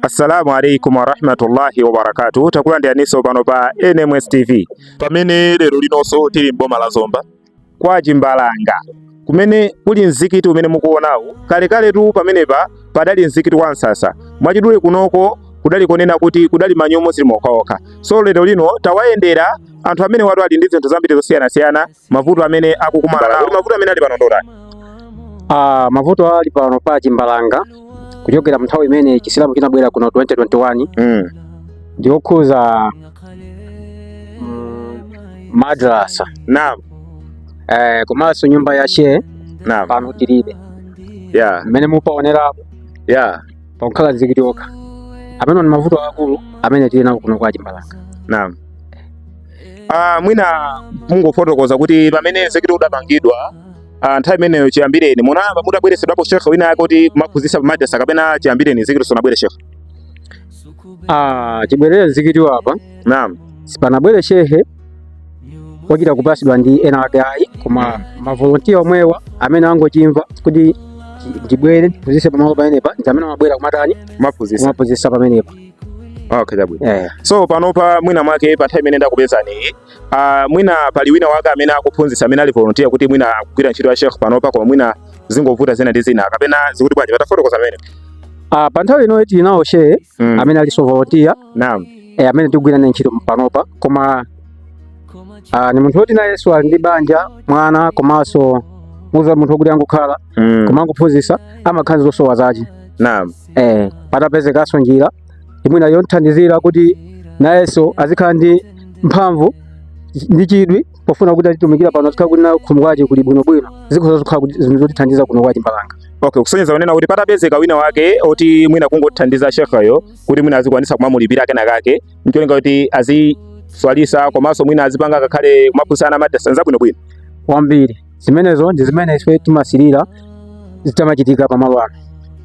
assalamu alaikum warahmatullahi wabarakatuh takulandiraniso pano pa nms tv pamene lero linonso tili m'boma la zomba kwa chimbalanga kumene kuli mzikiti umene mukuonawu kalekaletu pamenepa padali mzikiti wa msasa mwachidule kunoko kudali konena kuti kudali Manyumba Simokhaokha so lero lino tawayendera anthu amenewatu ali ndi zinthu zambiri zosiyanasiyana mavuto amene akukumana nawo kuti mavuto amene ali pano ndotani Ah, mavuto ali pano pa chimbalanga kuchokera mnthawi imene chisilamu chinabwera kuno 2021 mm. ndi okhudza mm, madrasa naam eh, komanso nyumba ya shehe naam pano tilibe yeah mmene mupaonera yeah pakungokhala mzikiti okha amene ndi mavuto akulu amene tili nawo kuno kwa chimbalanga naam Ah, mwina mungofotokoza kuti pamene mzikiti udapangidwa ah, nthawi imeneyo chiyambireni munayamba mutabweretsedwapo shekhe wina wake kuti kumaphunzitsa pamadrasa kapena chiyambireni mzikiti sunabwere shekhe? Ah, chibwerere mzikiti apa Naam. sipanabwere shehe wachita kupasidwa ndi ena ake ayi koma mavolontiya omwewa amene angochimva kuti chi- ndibwere ndiphunzitse pamalo pamenepa ndi amene amabwera kumatani Kumaphunzitsa. kumaphunzitsa pamenepa Okay, chabwino. Eh. So panopa mwina mwake pa time imene ndakupezani uh, ah, mwina pali wina wake amene akuphunzitsa amene ali volunteer kuti mwina akugwira ntchito ya Sheikh panopa koma mwina zingovuta zina ndi zina kapena zikuti bwanji tatifotokozereni pamenepo. Ah, pa nthawi ino tili nawo shehe mm. amene aliso volunteer. Naam. Eh, amene tikugwira naye ntchito panopa koma uh, ndi munthu woti nayenso ali ndi banja mwana komanso muza munthu wokuti angokhala mm. koma angophunzitsa amakhala zosowa zace. Naam. eh, patapezekanso njira mwina yomthandizira kuti nayenso azikhala ndi mphamvu ndi chidwi pofuna kuti azitumikira pano azikhala kuti nayo khomo kwace kuli bwinobwino zikhoza kukhala kuti zinthu zotithandiza kuno kwa chimbalanga okay kusonyeza kunena kuti patapezeka wina wake oti mwina kungothandiza shekheyo kuti mwina azikwanisa kumamulipira kena kake ncholinga kuti aziswalitsa komanso mwina azipanga ngakhale kumaphunzitsa ana madrasa nzabwinobwino kwambiri zimenezo ndi zimene ife timasirira zitamachitika pamalo ano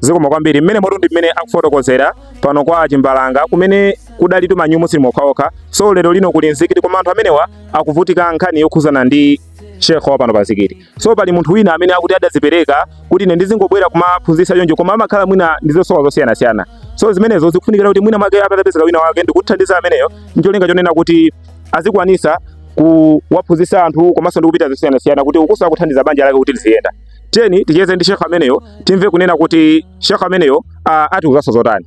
zikomo kwambiri mmenemotu ndi mmene akufotokozera pano kwa chimbalanga kumene kudali tumanyumu sili mokhaokha so lero lino kuli mzikiti koma anthu amenewa akuvutika nkhani yokhuzana ndi shekhe wa pano pa mzikiti so pali munthu wina amene akuti adazipereka kuti ine ndizingobwera kumaphunzitsa choncho koma amakhala mwina ndi zosowa zosiyanasiyana so zimenezo zikufunikira kuti mwina mwake patapezeka wina wake ndikuthandiza ameneyo ncholinga chonena kuti azikwanisa kuwaphunzitsa anthu komanso ndi kupeza zosiyanasiyana kuti ukuso akuthandiza banja lake kuti liziyenda. Tiyeni ticheze ndi shekhe ameneyo timve kunena kuti shekhe ameneyo atiuzanso zotani.